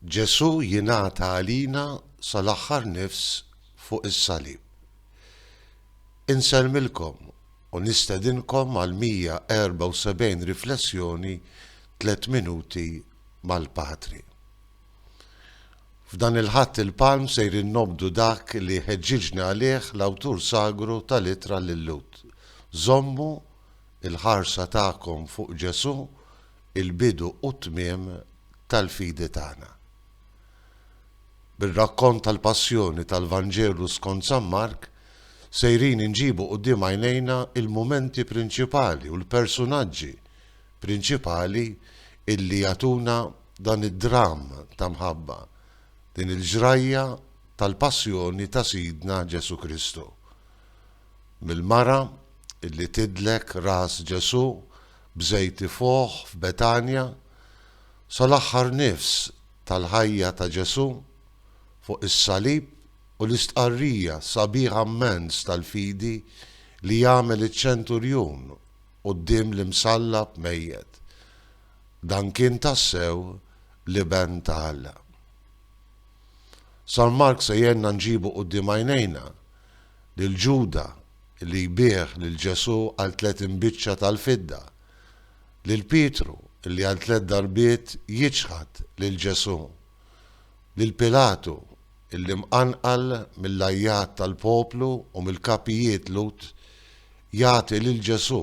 Ġesù jingħata għalina sal-aħħar nifs fuq is-salib. Insellmilkom u nistedinkom għal 174 riflessjoni Tliet Minuti mal-Patri. F'dan il-Ħadd il-Palm sejrin nobdu dak li ħeġġiġni għalih l-awtur sagru tal-Ittra lil-Lhud, Żommu Il-ħarsa tagħkom fuq Ġesù, il-bidu u t-tmiem tal-fidi tagħna. Bir-rakkont tal-Passjoni tal-Vanġelu skont San Mark, sejrin inġibu quddiem għajnejna l-mumenti prinċipali u l-persunaġġi prinċipali illi jagħtuna dan id-dramm ta' mħabba, din il-ġrajja tal-Passjoni ta' Sidna Ġesù Kristu. mill-mara li tidlek ras Ġesù b'żejt ifuħ f'Betanja sal-aħħar nifs tal-ħajja ta' Ġesù fuq is-salib u l-istqarrija sabiħa mmens tal-fidi li jagħmel iċ-ċenturjun quddiem l-imsallab mejjet, Dan kien tassew l-Iben ta' Alla. San Mark se jgħinna nġibu quddiem għajnejna lil Ġuda li jbigħ lil Ġesù għal tliet imbiċċa tal-fidda, lil Pietru li għal tliet darbiet jiċħad lil Ġesù, lil Pilatu li mqanqal mill-għajjat tal-poplu u mill-kapijiet Lhud jagħti lil Ġesù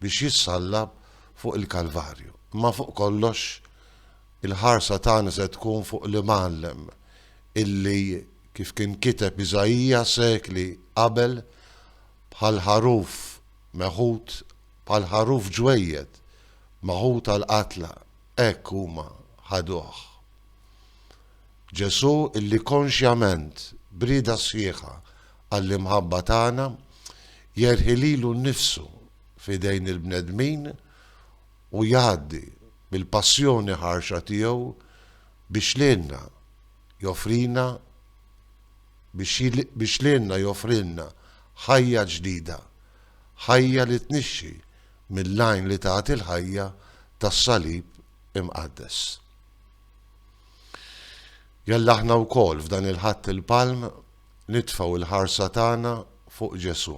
biex jissallab fuq il-Kalvarju. Imma fuq kollox, il-ħarsa tagħna se tkun fuq l-Imgħallem illi Kif kien kiteb Iżaija sekli qabel, Bħal ħaruf meħud, bħal ħaruf ġwejjed, meħud għall-qatla, hekk huma ħaduh. Ġesù, illi konxjament, b'rieda sħiħa għall-imħabba tagħna, jerħi lilu nnifsu f'idejn il-bnedmin u jgħaddi bil-passjoni ħarxa tiegħu biex lilna, joffrina biex biex lilna joffrilna ħajja ġdida, ħajja li tnixxi mill-għajn li tagħti l-ħajja tas-Salib Imqaddes. Jalla aħna wkoll f'dan il-Ħadd il-Palm nitfgħu l-ħarsa tagħna fuq Ġesù.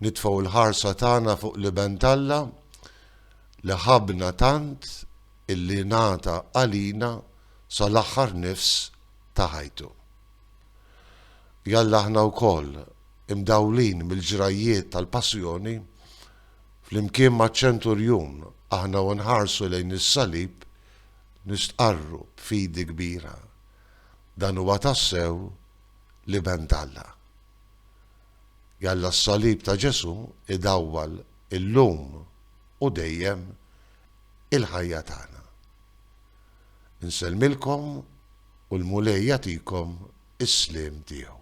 Nitfgħu l-ħarsa tagħna fuq l-Iben t'Alla li ħabna tant illi ngħata għalina sal-aħħar nifs ta' ħajtu. Jalla aħna wkoll, imdawlin mill-ġrajjiet tal-Passjoni, flimkien maċ-Ċenturjun aħna u nħarsu lejn is-Salib nistqarru b'fidi kbira, Dan huwa tassew l-Iben t'Alla. Jalla s-Salib ta' Ġesù idawwal illum u dejjem il-ħajja tagħna. Nsellmilkom u l-Mulej jagħtikom is-sliem tiegħu.